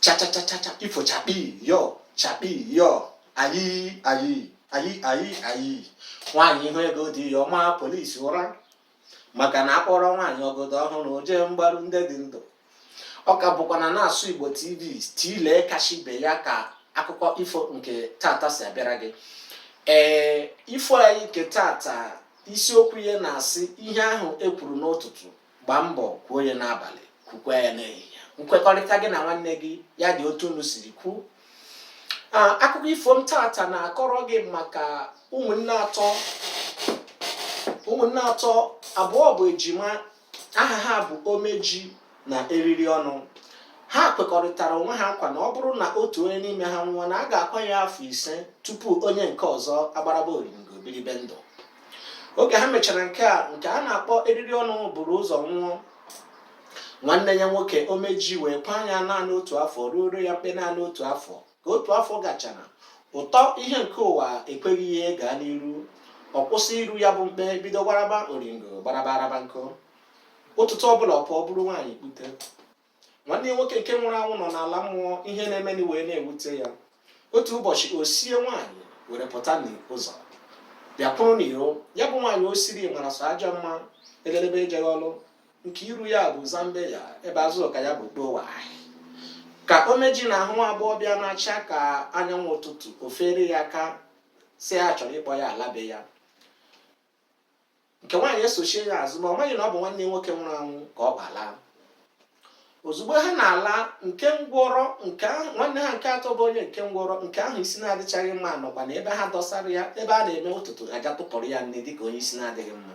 cha cha cha cha cha ifo chakpii yo chakpii yo ayi ayi ayi ayi ayi nwaanyị hụ ego di ya ọ maa polisi ụra maka na a kpọrọ nwaanyị ọgọdọ ọhụrụ o jee mgbaru ndị dị ndụ ọ ka bụkwa na na-asụ igbo tv tilee kashi be ya ka akụkọ ifo nke tata si abịara gị ee ifo anyị nke tata isiokwu ya na-asị ihe ahụ e kwuru n'ụtụtụ gbaa mbọ kwuo ya n'abalị kwukwa ya n'ehihie nkwekọrịta gị na nwanne gị ya dị otu unu siri kwuo akụkọ ifo m tata na-akọrọ gị maka ụmụnne atọ abụọ bụ ejima aha ha bụ omeji na eriri ọnụ ha kwekọrịtara onwe ha nkwa na ọ bụrụ na otu onye n'ime ha nwụọ na a ga-akwa ya afọ ise tupu onye nke ọzọ agbaraba oringo biribe ndụ oge ha mechara nke a nke a na-akpọ eriri ọnụ buru ụzọ nwụọ nwanne ya nwoke omeji wee kwaa ya naanị otu afọ ruoro ya mkpe naanị otu afọ ka otu afọ gachara ụtọ ihe nke ụwa ekweghị ya gaa n'iru ọ kwụsị iru ya bụ mkpe bido gbaraba oringo gbaraba arabanko ụtụtụ ọbụla ọ pụọ buru nwaanyị kpute nwanne ya nwoke nke nwụrụ anwụ nọ n'ala mmụọ ihe na-emeni wee na-ewute ya otu ụbọchị o sie nwaanyị were pụta n'ụzọ bịa kwụrụ n'iro ya bụ nwaanyị o siri mara sọ ajọ mma elelebe ejeghị ọlụ nke iru ya bụ zambia ebe azụka ya bụ kpowa ka omeji na-ahụ agbọghọbịa na-acha ka anyanwụ ụtụtụ o feere ya aka sị ya chọrọ ịkpọ ya ala be ya nke nwaanyị esochie ya azụ ma ọ maghị na ọ bụ nwanne nwoke nwụrụ anwụ ka ọ kpọ ala ozugbo ha na-ala nke ngwọrọ nke nwanne ha nke atọ bụ onye nke ngwọrọ nke ahụ isi na-adịchaghị mma nọkwa na ebe ha dosara ya ebe a na-eme ụtụtụ aja tụpụrụ ya nne dịka onye isi na-adịghị mma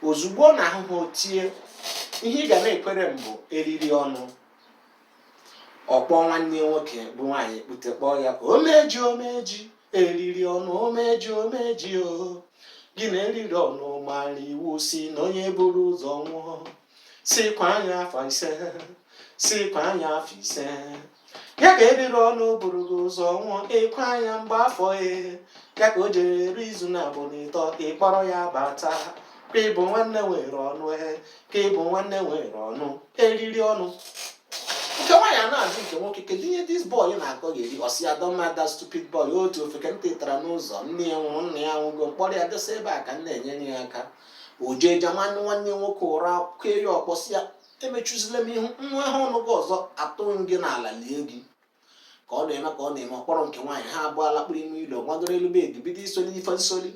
ozugbo ọ na-ahụ ha o tie ihe ị ga na-ekwere m bụ eriri ọnụ ọ kpọọ nwanne nwoke bu nwaanyị kpute kpọọ ya omeji omeji eriri ọnụ omeji omeji o gị na eriri ọnụ mara iwu sị na onye buru ụzọ nwụọ sị kwaa ya afọ ise sị kwaa ya afọ ise ya ka eriri ọnụ buru gị ụzọ nwụọ ị kwaa ya mgbe afọ e ya ka o jere eru izu naabọ na ịtọ ị kpọrọ ya bata ka ị bụ nwanne nwere ọnụ e ka ị bụ nwanne nwere ọnụ eriri ọnụ nke nwaanyị a na-ajụ nke nwoke kedu ihe this boy na-akọgheri ọ sị ya don't mind that stupid boy otu ofeke m tụtara n'ụzọ nne ya nwụrụ nna ya nwụgo m kpọrọ ya dosa ebe a ka m na-enyere ya aka o jee jamaa nwanne nwoke ụra kee ya ọkpọ sị ya emechuzila m ihu nwa ha ọnụ gị ọzọ atụọ m gị n'ala lie gị ka ọ na-eme ka ọ na-eme ọ kpọrọ nke nwaanyị ha abụọ alakpuru ime ụlọ gbagoro elu bed bido isoli ife nsoli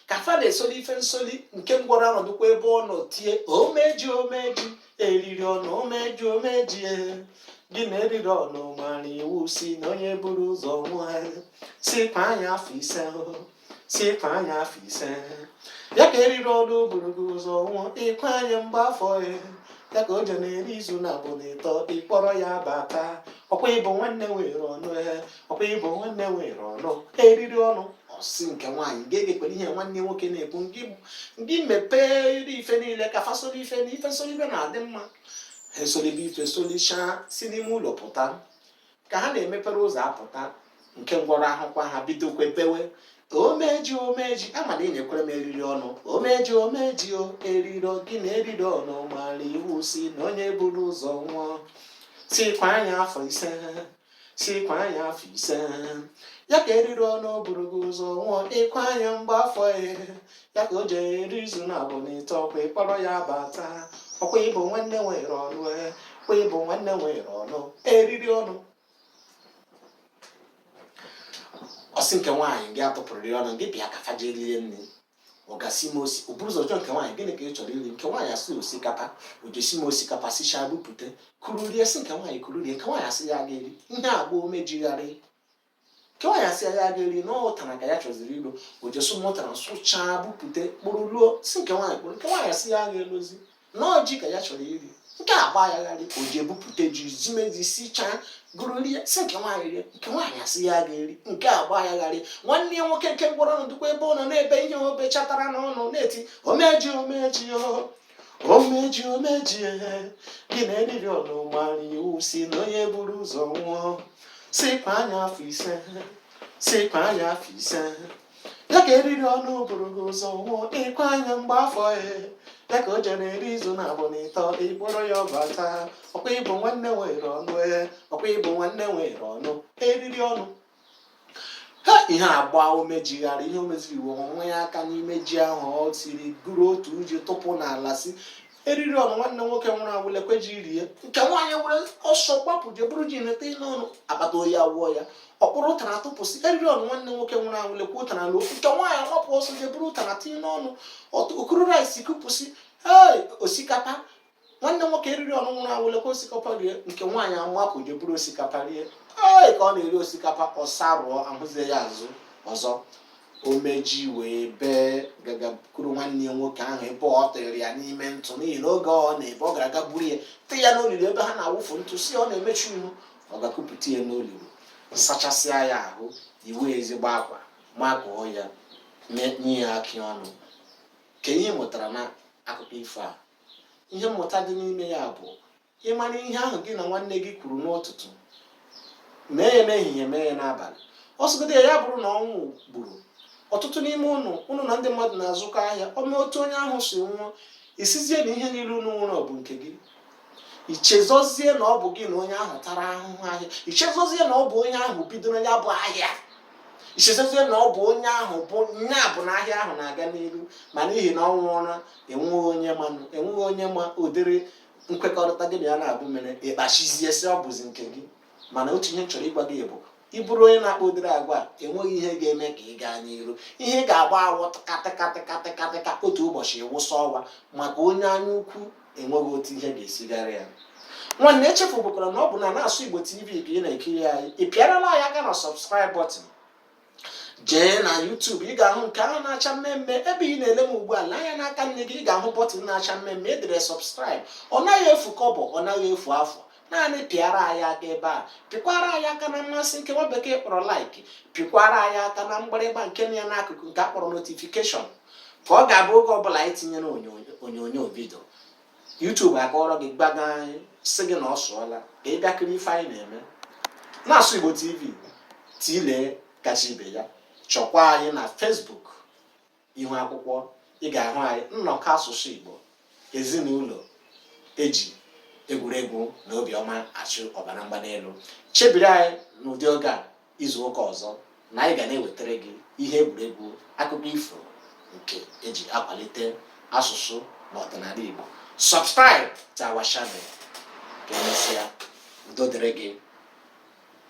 ka fa na-esoli ife nsoli nke ngwọrọ anọdụkwa ebe ọ nọ tie omeji omeji eriri ọnụ omeji omeji e. gị na eriri ọnụ mara iwu si na onye buru ụzọ nwụọ si kwa anya afọ ise ahụhụ si kwa anya afọ ise ya ka eriri ọnụ buru gị ụzọ nwụọ ịkwa anya mgbe afọ ya ya ka o je na-eri izu na abụọ na ịtọ ịkpọrọ ya bata ọkwa ịbụ nwanne nwere ọnụ ya ọkwa ịbụ nwanne nwere ọnụ eriri ọnụ ọ sị nke nwaanyị gị egekwere ihe nwanne nwoke na-ekwu ngị mepee iri ife niile ka fa soli ife na ife nsoli ife na-adị mma ha esolibe ife solichaa si n'ime ụlọ pụta ka ha na-emepere ụzọ apụta nke ngwọrọ ahụkwa ha bidokwe bewe omeji omeji ama na enyekwere m eriri ọnụ omeji omeji o eriro gị na eriri ọnụ mara iwu si na onye buru ụzọ nwụọ sikwa anya afọ ise sikwa anya afọ ise ya ka eriri ọnụ buru gị ụzọ nwụọ ịkwa anya mgbe afọ ya ya ka o jere eri izu na abụọ na ịtọ ọkwa ịkpọrọ ya bata ọkwa ịbụ nwanne nwere ọnụ eh, ọkwa ịbụ nwanne nwere ọnụ eriri ọnụ ọ sị nke nwaanyị gị atụpụrụ ya ọnụ gị bịa ka fa je rie nri ọ gasị m osi o buru ụzọ jụọ nke nwaanyị gịnị ka ị chọrọ iri nke nwaanyị asị osikapa o jesi m osikapa sichaa bupute kuru rie sị nke nwaanyị kuru rie nke nwaanyị asị ya ga-eri ihe a gbaa omeji gharị nke nwaanyị asị ya ya ga-eri na ọ ụtara ka ya chọziri ilo o jesu m ụtara sụchaa bupute kpụrụ luo sị nke nwaanyị kpụrụ nke nwaanyị asị ya ga-elozi na ọ ji ka ya chọrọ iri nke a gbaa ya gharị o je bupute ji zimezi sichaa guru rie sị nke nwaanyị rie nke nwaanyị asị ya ga-eri nke a gbaa ya gharị nwanne ya nwoke nke ngwọrọ anọdụkwa ebe ọ nọ na-ebe ihe o bechatara n'ọnụ na-eti omeji omeji o omeji omeji ehe gị na eriri ọnụ mara iwu si na onye buru ụzọ nwụọ sikwa anya afọ ise sikwa anya afọ ise ya ka eriri ọnụ buru gị ụzọ nwụọ ịkwa anya mgbe afọ ya ya ka o jere eri izu na abụọ na ịtọ ịkpọrọ ya bata ọkwa ịbụ nwanne nwere ọnụ ee ọkwa ịbụ nwanne nwere ọnụ eriri ọnụ ha ihe a gbaa omeji gharị ihe o meziri iwe ewe ya aka n'ime ji ahụ o siri guru otu uji tụpụ n'ala sị eriri ọnụ nwanne nwoke nwụrụ anwụ lekwe ji rie nke nwaanyị were ọsọ gbapụ je buru ji na-etinye ọnụ akpata oyi awụọ ya ọ kpụrụ ụtara tụpụ sị eriri ọnụ nwanne nwoke nwụrụ anwụ lekwe ụtara luo nke nwaanyị agbapụ ọsọ je buru ụtara tinye n'ọnụ o kuru rice kupụ sị ee osikapa nwanne nwoke eriri ọnụ nwụrụ anwụ lekwe osikapa rie nke nwaanyị amapụ je buru osikapa rie ee ka ọ na-eri osikapa ọ sarụọ ahụzie ya azụ ọzọ omeji wee bee ga gakwuru nwanne ya nwoke ahụ ebe ọ tịrị ya n'ime ntụ n'ihi na oge ọ na-ebe ọ gara aga buru ya tị ya n'olulu ebe ha na-awụfu ntụ sị ọ na-emechu ihu ọ ga kupụta ya n'olulu sachasịa ya ahụ iwe ezigbo akwa makụọ ya nye ya akị ọnụ kee ihe mụtara na akụkọ ifo a ihe mmụta dị n'ime ya bụ ị mara ihe ahụ gị na nwanne gị kwuru n'ụtụtụ mee ya n'ehihie mee ya n'abalị ọ sọgodi ya bụrụ na ọnwụ gburu otutu n'ime unu unu na ndị mmadụ na-azụkọ ahịa o mee otu onye ahụ si nwụọ ị sịzie na ihe niile unu nwere ọ bụ nke gị i chezọzie na ọ bụ gị na onye ahụ tara ahụhụ ahịa i chezọzie na ọ bụ onye ahụ bidoro ya bụ ahịa i chezọzie na ọ bụ onye ahụ bụ nya bụ na ahịa ahụ na-aga n'ihu ma n'ihi na ọ nwụọla enweghị onye manụ enweghị onye ma ụdịrị nkwekọrịta gị na ya naabọ mere ị kpachizie sị ọ bụzi nke gị mana otu ihe m chọrọ ịgwa gị bụ ị bụrụ onye na-akpa ụdịrị agwa a enweghị ihe ga-eme ka ị gaa n'iru ihe ị ga-agba awọ katịkatịkatịkatịka otu ụbọchị ị wụsa ọwa maka onye anya ukwu enweghị otu ihe ga-esi gara ya nwanne echefubukwara na ọ bụ na na-asụ Igbo TV ka ị na-ekiri anyị ị pịarala anyị aka na subscribe button jee na YouTube ị ga-ahụ nke ahụ na-acha mmee mmee ebe ị na-ele m ugbu a lee anya n'aka nni gị ị ga-ahụ button na-acha mmee mmee e dere subscribe ọ naghị efu kọbọ ọ naghị efu afụ naanị pịara anyị aka ebe a pịkwara anyị aka na mmasị nke nwa bekee kpọrọ like pịkwara anyị aka na mgbịrịgba nke ya n'akụkụ nke a kpọrọ notification ka ọ ga-abụ oge ọbụla anyị tinyere onyonyo video YouTube akụọrọ gị gbaga anyị sị gị na ọ sụọla ka ị bịa kiri ife anyị na-eme na-asụ Igbo TV tele kacha ibe ya chọkwa anyị na Facebook ihu akwụkwọ ị ga-ahụ anyị nnọkọ asụsụ Igbo ezinụlọ e ji egwuregwu na obiọma achụ ọbara mgbali elu chebiri anyị n'ụdị oge a izu ụka ọzọ na anyị ga na-ewetara gị ihe egwuregwu akụkọ ifo nke e ji akwalite asụsụ na ọdịnala Igbo subscribe to our channel ka emesịa udo dịrị gị